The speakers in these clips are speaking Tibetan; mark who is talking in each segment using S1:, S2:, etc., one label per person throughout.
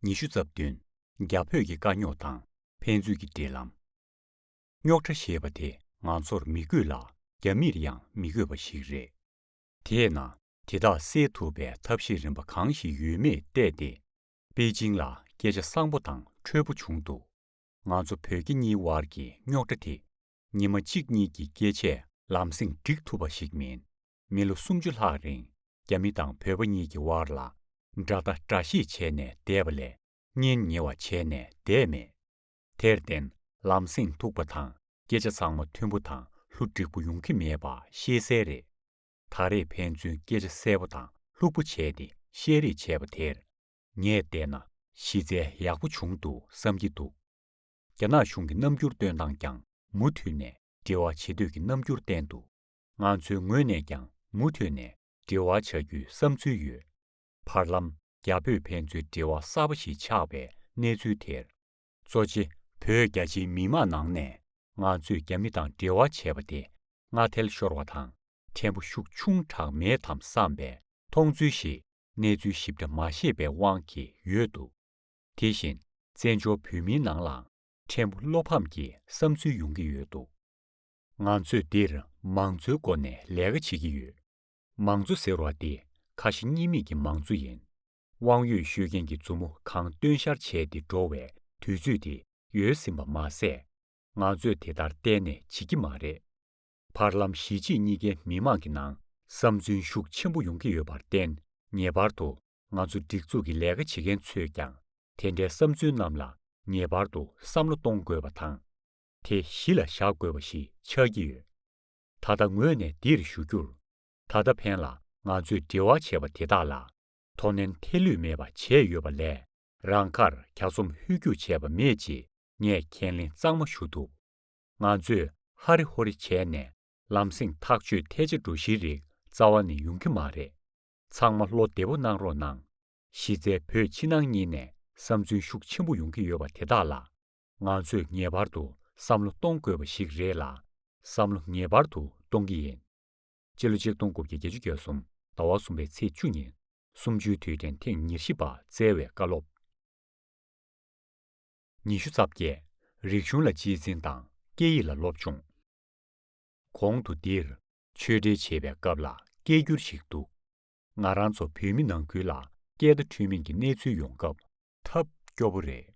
S1: ཉི་ཤུ་རྩ་བདུན། རྒྱ་བོད་ཀྱི་དཀའ་རྙོག་དང་ཕན་ཚུན་གྱི་འབྲེལ་ལམ། རྙོག་ཁྲ་ཞེས་པ་དེ་ང་ཚོར་མི་དགོས་ལ་རྒྱ་མིར་ཡང་མི་དགོས་པ་ཞིག་རེད། དེས་ན་དེ་དག་སེལ་ཐུབ་པའི་ཐབས་ཤེས་རིམ་པ་གང་ཞིག་ཡོད་མེད་བལྟས་ཏེ། པེ་ཅིང་ལ་སྐད་ཆ་བཟང་པོ་དང་འཕྲོད་པོ་བྱུང་འདུག་ང་ཚོ་བོད་རྒྱ་གཉིས་དབར་གྱི་རྙོག་དྲ་དེ་ཉིན་མ་གཅིག་གཉིས་ཀྱི་སྐད་ཆས་ལམ་སེང་འགྲིག་ཐུབ་པ་ཞིག་མིན། མི་ལོ་སུམ་ཅུ་ལྷག་རིང་རྒྱ་མི་དང་བོད་པ་གཉིས་ཀྱི་དབར་ལ་དགྲ་ལྟ་དགྲ་ཤེས་བྱས་ནས་བསྡད་པ་ལས་གཉེན་ཉེ་བ་བྱས་ནས་བསྡད་མེད། དེར་བརྟེན་ལམ་སེང་ཐུག་པ་དང་སྐད་ཆ་ཚང་མ་མཐུན་པོ་དང་ལྷུ་འགྲིག་པོ་ཡོང་གི་མེད་པ་ཤེས་གསལ་རེད། ད་རེས་ཕན་ཚུན་སྐད་ཆ་གསལ་པོ་དང་ལྷུག་པོ་བྱས་ཏེ་བཤད་རེས་བྱས་པ་དེར་ངས་བལྟས་ན་གཞི་རྩའི་ཡག་པོ་བྱུང་འདུག་བསམ་གྱི་འདུག་རྒྱ་ནག་གཞུང་གི་རྣམ་འགྱུར་སྟོན་སྟངས་ཀྱང་མུ་མཐུད་ནས་འབྲེལ་བ་བྱེད་འདོད་ཀྱི་རྣམ་འགྱུར་བསྟན་འདུག་ང་ཚོའི་ངོས་ནས་ཀྱང་མུ་མཐུད་ནས་འབྲེལ་བ་བྱ་རྒྱུའི་བསམ་ཚུལ་ཡོད། བར་ལམ་རྒྱ་བོད་ཕན་ཚུན་འབྲེལ་བ་གསར་པ་ཞིག་ཆགས་པའི་གནས་ཚུལ་དེར། གཙོ་ཆེ་བོད་རྒྱ་ཆེའི་མི་མང་ནང་ནས་ང་ཚོས་རྒྱ་མི་དང་འབྲེལ་བ་བྱས་པ་དེ་སྔ་ཐལ་ཤོར་བ་དང་ཕྲན་བུ་ཤུགས་ཆུང་དྲགས་མེད་དམ་བསམ་པའི་མཐོང་ཚུལ་ཞིག་གནས་ཚུལ་ཞིབ་ཕྲ་མ་ཤེས་པའི་དབང་གིས་ཡོད་འདུག་དེ་བཞིན་བཙན་བྱོལ་བོད་མིའི་ནང་ལའང་ཕྲན་བུ་བློ་ཕམ་གྱི་བསམ་ཚུལ་ཡོང་གི་ཡོད་འདུག་ང་ཚོས་འདིར་མང་གཙོའི་སྒོ་ནས་ལས་ཀ་བྱེད་ཀྱི་ཡོད། མང་གཙོ་ཟེར་བ་འདི་ཁ་ཞེ་གཉིས་མེད་ཀྱི་མང་གཙོ་ཡིན། དབང་ཡོད་ཤོད་མཁན་གྱི་མཛུབ་མོ་གང་བཏོན་ཤར་བྱས་ཏེ་འགྲོ་བའི་དུས་ཚོད་དེ་ཡོལ་ཟིན་པ་མ་ཟད། ང་ཚོས་དེ་ལྟར་གཏན་ནས་བྱེད་ཀྱི་མ་རེད། བར་ལམ་གཞིས་བྱེས་གཉིས་ཀའི་མི་དམངས་ཀྱི་ནང་བསམ་ཚུན་ཤུགས་ཆེན་པོ་ཡོང་གི་ཡོད་པར་བརྟེན་ངེས་པར་དུ་ང་ཚོ་སྒྲིག་འཛུགས་ཀྱི་ལས་ཀ་བྱེད་མཁན་ཚོས་ཀྱང་དེ་འདྲའི་བསམ་ཚུལ་རྣམས་ལ་ངེས་པར་དུ་བསམ་བློ་གཏོང་དགོས་པ་དང། དེ་གཞི་ལ་བཞག་དགོས་པ་ཞིག་ཆགས་ཀྱི་ཡོད། ད་ལྟ་ངོས་ནས་འདིར་ཞུ་རྒྱུར། ད་ལྟ་ཕན་ལ་ང་ཚོས་འབྲེལ་བ་བྱས་པ་དེ་དག་ལ་དོ་ནན་ཐེ་ལུས་མེད་པ་བྱས་ཡོད་པ་ལས་རང་ཁར་གྱ་ཚོམ་ཧུད་རྒྱུགས་བྱས་པ་མེད་ཅེས་ངས་ཁས་ལེན་གཙང་མ་ཞུ་ཐུབ། ང་ཚོས་ཧ་རི་ཧོ་རི་བྱས་ནས་ལམ་སེང་ཐག་གཅོད་ཐལ་ཆ་འགྲོ་གཞིའི་རིགས་རྩ་བ་ནས་ཡོང་གི་མ་རེད། ཚང་མ་བློ་བདེ་པོ་གནང་རོགས་གནང། གཞི་རྩའི་བོད་ཕྱི་ནང་གཉིས་ནས་བསམ་ཚུལ་ཤུགས་ཆེན་པོ་ཡོང་གི་ཡོད་པ་དེ་དག་ལ་ང་ཚོས་ངེས་པར་དུ་བསམ་བློ་གཏོང་དགོས་པ་ཞིག་རེད་ལ། བསམ་བློ་ངེས་པར་དུ་གཏོང་གི་ཡིན། སྤྱི་ལོ་ཆིག་སྟོང་དགུ་བརྒྱ་བརྒྱད་ཅུ་གྱ་གསུམ་ཟླ་བ་གསུམ་པའི་ཚེས་བཅུ་ཉིན་གསུམ་བཅུའི་དུས་དྲན་ཐེངས་ཉེར་བཞི་པ་སྩལ་བའི་བཀའ་སློབ། ཉི་ཤུ་རྩ་བརྒྱད། རིག་གཞུང་ལ་སྤྱིའི་འཛིན་དང་སྐད་ཡིག་ལ་སློབ་སྦྱོང། གོང་དུ་འདིར་ཆོས་འབྲེལ་བྱེད་པའི་སྐབས་ལ་སྐད་བསྒྱུར་ཞིག་འདུག། ང་རང་ཚོ་བོད་མི་ནང་ཁུལ་ལ་སྐད་བརྡ་འཕྲོད་མིན་གྱི་གནས་ཚུལ་ཡོང་སྐབས། ཐབས་སྐྱོ་པོ་རེད།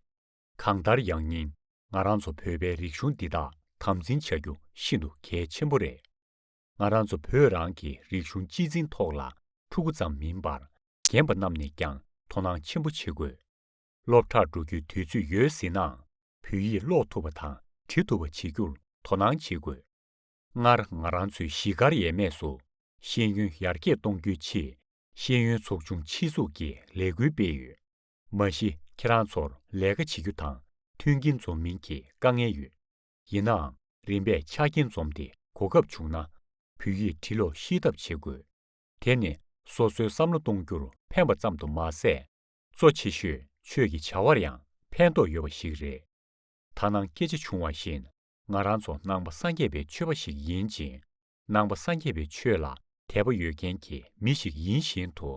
S1: གང་ལྟར་ཡང་སྙིང་ང་རང་ཚོ་བོད་པའི་རིག་གཞུང་འདི་དག་དམ་འཛིན་བྱ་རྒྱུ་ཤིན་ཏུ་གལ་ཆེན་པོ་རེད། ང་རང་ཚོ་བོད་རང་གི་རིག་གཞུང་སྤྱི་འཛིན་ཐོག་ལ་ཕྲུ་གུ་ཙམ་མིན་པར་རྒན་པ་རྣམས་ནས་ཀྱང་དོ་སྣང་ཆེན་པོ་བྱེད་དགོས། སློབ་གྲྭར་འགྲོ་རྒྱུའི་དུས་ཚོད་ཡོལ་ཟིན་ནའང་བོད་ཡིག་ཀློག་ཐུབ་པ་དང་བྲི་ཐུབ་པ་བྱེད་རྒྱུར་དོ་སྣང་བྱེད་དགོས། ལྔར་ང་རང་ཚོའི་གཞིས་སྒར་ཡས་མས་སུ་ཤེས་ཡོན་ཡར་རྒྱས་གཏོང་རྒྱུའི་ཆེད་ཤེས་ཡོན་ཚོགས་ཆུང་ཕྱི་གཟུགས་ཀྱི་ལས་འགུལ་སྤེལ་ཡོད། མ་གཞི་ཁྱེད་རང་ཚོར་ལས་ཀ་བྱེད་རྒྱུ་དང་མཐུན་རྐྱེན་འཛོམས་མིན་གྱི་དཀའ་ངལ་ཡོད། ཡིན་ནའང་རིམ་པས་ཆ་རྐྱེན་འཛོམས་ཏེ་གོ་སྐབས་བྱུང་ན། བོད་ཡིག་བྲི་ཀློག་ཤེས་ཐབས་བྱེད་དགོས། དེ་ནི་སོ་སོའི་བསམ་བློ་གཏོང་རྒྱུར་ཕན་པ་ཙམ་དུ་མ་ཟད། གཙོ་ཆེ་ཤོས་ཆོས་ཀྱི་བྱ་བར་ཡང་ཕན་ཐོགས་ཡོད་པ་ཞིག་རེད། ད་ནངས་སྐད་ཆ་བྱུང་བ་བཞིན་ང་རང་ཚོ་ནང་པ་སངས་རྒྱས་པའི་ཆོས་པ་ཞིག་ཡིན་ཅིང་ནང་པ་སངས་རྒྱས་པའི་ཆོས་ལ་དད་པ་ཡོད་མཁན་གྱི་མི་ཞིག་ཡིན་བཞིན་དུ་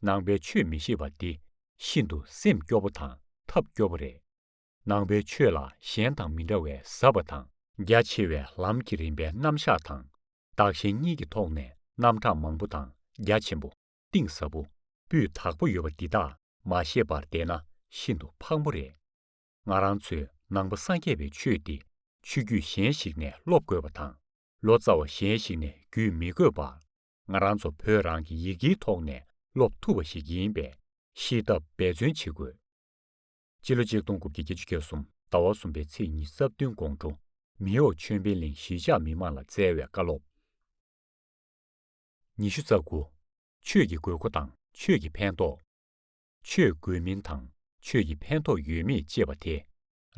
S1: ནང་པའི་ཆོས་མི་ཤེས་པ་འདི་ཤིན་ཏུ་སེམས་སྐྱོ་པོ་དང་ཐབས་སྐྱོ་པོ་རེད། ནང་པའི་ཆོས་ལ་གཞན་དང་མི་འདྲ་བའི་ཟབ་པ་དང། རྒྱ་ཆེ་བའི་ལམ་གྱི་རིམ་པའི་རྣམ་གཞག་དང་བདག་གཞན་གཉིས་ཀྱི་ཐོག་ནས་རྣམ་གྲངས་མང་པོ་དང་རྒྱ་ཆེན་པོ། གཏིང་ཟབ་པོ་སྤུས་དག་པོ་ཡོད་པ་འདི་དག་མ་ཤེས་པར་བསྡད་ན་ཤིན་ཏུ་ཕངས་པོ་རེད། ང་རང་ཚོས་ནང་པ་སངས་རྒྱས་པའི་ཆོས་འདི་ཆོས་བརྒྱུད་གཞན་ཞིག་ནས་སློབ་དགོས་པ་དང་ལོ་ཙཱ་བ་གཞན་ཞིག་ནས་བརྒྱུད་མི་དགོས་པར་ང་རང་ཚོ་བོད་རང་གི་ཡི་གེའི་ཐོག་ནས་སློབ་ཐུབ་པ་ཞིག་ཡིན་པས་ཤེས་ཐབས་འབད་བརྩོན་བྱེད་དགོས། སྤྱི་ལོ་ཆིག་སྟོང་དགུ་བརྒྱ་བརྒྱད་ཅུ་གྱ་གསུམ་ཟླ་བ་གསུམ་པའི་ཚེས་གཉིས་རྩ་བདུན་དགོང་དྲོ་མེའོ་ཆོས་འཕེལ་གླིང་གཞིས་ཆགས་མི་མང་ལ་སྩལ་བའི་བཀའ་སློབ། ཉི་ཤུ་རྩ་དགུ། ཆོས་ཀྱི་དགོས་མཁོ་དང་ཆོས་ཀྱི་ཕན་ཐོགས། ཆོས་དགོས་མིན་དང་ཆོས་ཀྱི་ཕན་ཐོགས་ཡོད་མེད་ཅེས་པ་དེ་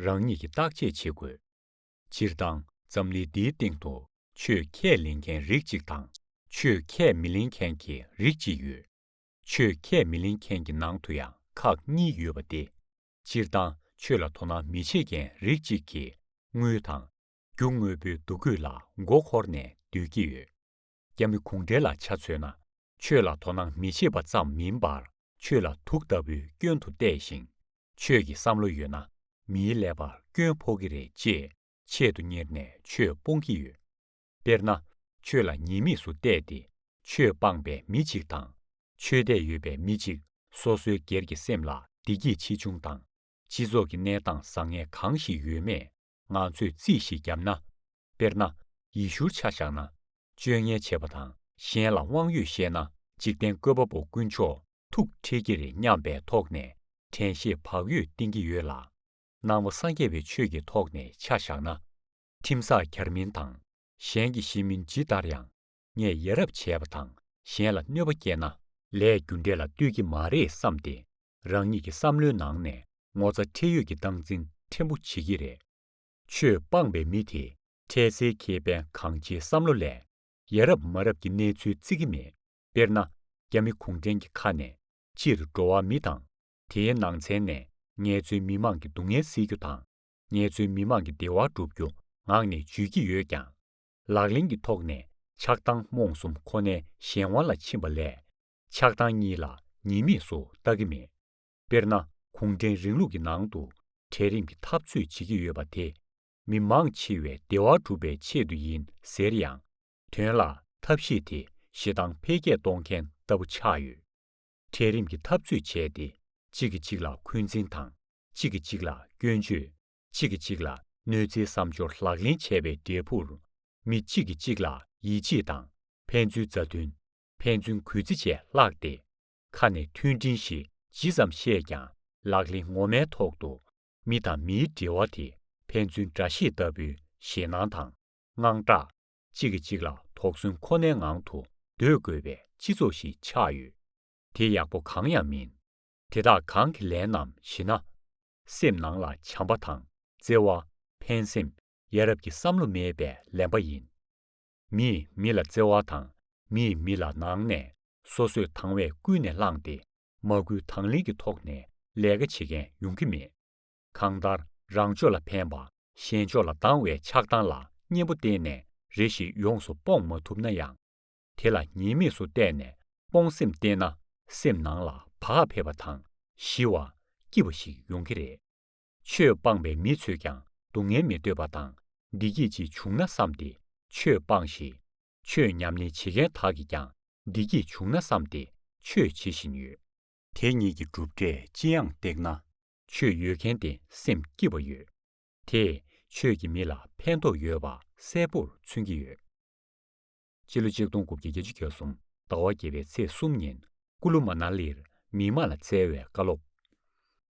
S1: རང་ཉིད་ཀྱིས་བརྟག་དཔྱད་བྱེད་དགོས། སྤྱིར་བཏང་འཛམ་གླིང་འདིའི་སྟེང་དུ་ཆོས་ཁས་ལེན་མཁན་རིགས་གཅིག་དང་ཆོས་ཁས་མི་ལེན་མཁན་གྱི་རིགས་གཅིག་ཡོད། ཆོས་ཁས་མི་ལེན་མཁན་གྱི་ནང་དུ་ཡང་ཁག་གཉིས་ཡོད་པ་སྟེ། སྤྱིར་བཏང་ཆོས་ལ་དོ་སྣང་མི་བྱེད་མཁན་རིགས་གཅིག་གིས་དངུལ་དང། རྒྱུ་དངོས་པོའི་འདུ་འགོད་ལ་མགོ་འཁོར་ནས་སྡོད་ཀྱི་ཡོད། རྒྱ་མི་གུང་བྲན་ལ་ཆ་མཚོན་ན་ཆོས་ལ་དོ་སྣང་མི་བྱེད་པ་ཙམ་མིན་པར་ཆོས་ལ་དུག་ལྟ་བུའི་སྐྱོན་དུ་བལྟས་ཤིང། ཆོས་ཀྱི་བསམ་བློ་ཡོད་ན་མིའི་ཀླད་པར་སྐྱོན་ཕོག་གི་རེད་ཅེས་ཆེད་དུ་གཉེར་ནས་ཆོས་སྤོང་གི་ཡོད། དཔེར་ན། ཆོས་ལ་ཉེས་དམིགས་སུ་བལྟས་ཏེ་ཆོས་སྤངས་པའི་མི་གཅིག་དང། ཆོས་དད་ཡོད་པའི་མི་གཅིག་སོ་སོའི་སྒེར་གྱི་སེམས་ལ་བདེ་སྐྱིད་ཆེ་ཆུང་དང། སྤྱི་ཚོགས་ཀྱི་གནས་སྟངས་བཟང་ངན་གང་ཞིག་ཡོད་མེད་ང་ཚོས་རྩིས་ཤིག་བརྒྱབ་ན། དཔེར་ན། ཡི་ཤུར་ཆ་བཞག་ན། སྤྱོད་ངན་བྱས་པ་དང་གཞན་ལ་དབང་ཡོད་བཤད་ན་འཇིག་རྟེན་བཀོད་པ་པོ་དཀོན་མཆོག་ཐུགས་ཁྲེལ་གྱི་རེད་སྙམ་པའི་ཐོག་ནས་དྲན་ཤེས་བག་ཡོད་བསྟེན་གྱི་ཡོད་ལ། སྣང་བ་སངས་རྒྱས་པའི་ཆོས་ཀྱི་ཐོག་ནས་ཆ་བཞག་ན། ཁྲིམས་བསགས་གར་མིན་དང་གཞན་གྱི་ཤེས་མིན་ཇི་ལྟར་ཡང་ངས་ཡ་རབས་བྱས་པ་དང་གཞན་ལ་གནོད་པ་བསྐྱལ་ན། ལས་རྒྱུ་འབྲས་ལ་ལྟོས་ཀྱི་མ་རེད་བསམ་སྟེ་རང་ཉིད་ཀྱི་བསམ་བློའི་ནང་ནས་ངོ་ཚ་ཁྲེལ་ཡོད་ཀྱི་སྟངས་འཛིན་ཕྲན་བུ་བྱེད་ཀྱི་རེད། ཆོས་སྤངས་པའི་མི་དེ་ཁྲལ་སེལ་ཁེ་ཕན་གང་བྱེད་བསམ་བློ་ལས་ཡ་རབས་མ་རབས་ཀྱི་གནས་ཚུལ་བརྩི་གི་མེད། དཔེར་ན་རྒྱ་མི་གུང་ཁྲན་གྱི་ཁ་ནས་ཕྱིར་འགྲོ་བ་མི་དང་དེའི་ནང་ཚན་ནས་ངལ་རྩོལ་མི་མང་གི་སྡུག་བསྔལ་སེལ་རྒྱུ་དང་ངལ་རྩོལ་མི་མང་གི་བདེ་བ་སྒྲུབ་རྒྱུ་ངག་ནས་བརྗོད་ཀྱི་ཡོད་ཀྱང། ལག་ལེན་གྱི་ཐོག་ནས་ཆགས་སྡང་རྨོངས་གསུམ་ཁོ་ནའི་གཞན་དབང་ལ་ཕྱིན་པ་ལས། ཆགས་སྡང་གཉིས་ལ་ཉེས་དམིགས་སུ་བལྟ་གི་མེད། དཔེར་ན་གུང་ཁྲན་རིང་ལུགས་ཀྱི་ནང་དུ་གྲལ་རིམ་གྱི་འཐབ་རྩོད་བྱེད་ཀྱི་ཡོད་པ་དེ། མི་མང་འཆི་བའི་བདེ་བ་སྒྲུབ་པའི་ཆེད་དུ་ཡིན་ཟེར་ཡང། དོན་ལ་ཐབས་ཤེས་དེ་ཞེ་སྡང་འཕེལ་རྒྱས་གཏོང་མཁན་ལྟ་བུ་ཆགས་ཡོད། གྲལ་རིམ་གྱི་འཐབ་རྩོད་བྱས་ཏེ་གཅིག་གིས་གཅིག་ལ་འཁོན་འཛིན་དང་གཅིག་གིས་གཅིག་ལ་སྐྱོན་བརྗོད། གཅིག་གིས་གཅིག་ལ་གནོད་འཚེའི་བསམ་སྦྱོར་ལག་ལེན་བྱས་པའི་འབྲས་བུར། མི་གཅིག་གིས་གཅིག་ལ་ཡིད་ཆེས་དང་ཕན་ཚུན་མཛའ་མཐུན། ཕན་ཚུན་གུས་བརྩི་བཅས་བརླགས་ཏེ། ཁ་ནས་མཐུན་སྒྲིལ་ཞེས་ཇི་ཙམ་བཤད་ཀྱང་ལག་ལེན་ངོ་མའི་ཐོག་ཏུ། མི་དང་མིའི་འབྲེལ་བ་དེ་ཕན་ཚུན་འདྲ་ཤེས་ལྟ་བུའི་ཞེད་སྣང་དང་དངངས་སྐྲག། གཅིག་གིས་གཅིག་ལ་དོགས་ཟོན་ཁོ་ནའི་ངང་དུ་སྡོད་དགོས་པའི་སྤྱི་ཚོགས་ཤིག་ཆགས་ཡོད། དེ་ཡག་པོ་གང་ཡང་མིན། དེ་དག་གང་གི་ལན་ནམ་ཞེ་ན། སེམས་ནང་ལ་བྱམས་པ་དང་བརྩེ་བ། ཕན་སེམས། ཡ་རབས་ཀྱི་བསམ་བློ་མེད་པའི་ལན་པ་ཡིན། མིས་མི་ལ་བརྩེ་བ་དང་མིས་མི་ལ་ནང་ནས་སོ་སོས་དང་བས་ཀུན་ནས་བསླངས་ཏེ་མ་སྐུལ་དང་ལེན་གྱི་ཐོག་ནས་ལས་ཀ་བྱེད་མཁན་ཡོང་གི་མེད། གང་ལྟར་རང་ཕྱོགས་ལ་ཕན་པ་གཞན་ཕྱོགས་ལ་སྡང་བའི་ཆགས་སྡང་ལ་གཉེན་པོ་བསྟེན་ནས་རེ་ཞིག་ཡོངས་སུ་སྤོངས་མ་ཐུབ་ན་ཡང། དེ་ལ་ཉེས་དམིགས་སུ་བལྟས་ནས་སྤོང་སེམས་བསྟེན་ན་སེམས་ནང་ལ་བག་ཕེབས་པ་དང་ཞི་བ། སྐྱིད་པ་ཞིག་ཡོང་གི་རེད། ཆོས་སྤངས་པའི་མི་ཚོས་ཀྱང་སྡུག་བསྔལ་མི་འདོད་པ་དང་བདེ་སྐྱིད་ཅིག་བྱུང་ན་བསམས་ཏེ་ཆོས་སྤངས་ཤིང། ཆོས་ཉམས་ལེན་བྱེད་མཁན་དག་གིས་ཀྱང་བདེ་སྐྱིད་བྱུང་ན་བསམས་ཏེ་ཆོས་བྱེད་བཞིན་ཡོད། དེ་གཉིས་ཀྱི་གྲུབ་འབྲས་ཅི་ཡང་བཏེགས་ན། ཆོས་ཡོད་མཁན་དེ་སེམས་སྐྱིད་པ་ཡོད། དེས་ཆོས་ཀྱིས་མི་ལ་ཕན་ཐོགས་ཡོད་པ་གསལ་པོར་མཚོན་གྱི་ཡོད། སྤྱི་ལོ་ཆིག་སྟོང་དགུ་བརྒྱ་བརྒྱད་ཅུ་གྱ་གསུམ་ཟླ་བ་བརྒྱད་པའི་ཚེས་གསུམ་ཉིན་ཀུ་ལུ་མ་ནཱ་ལེར་མི་དམངས་ལ་སྩལ་བའི་བཀའ་སློབ།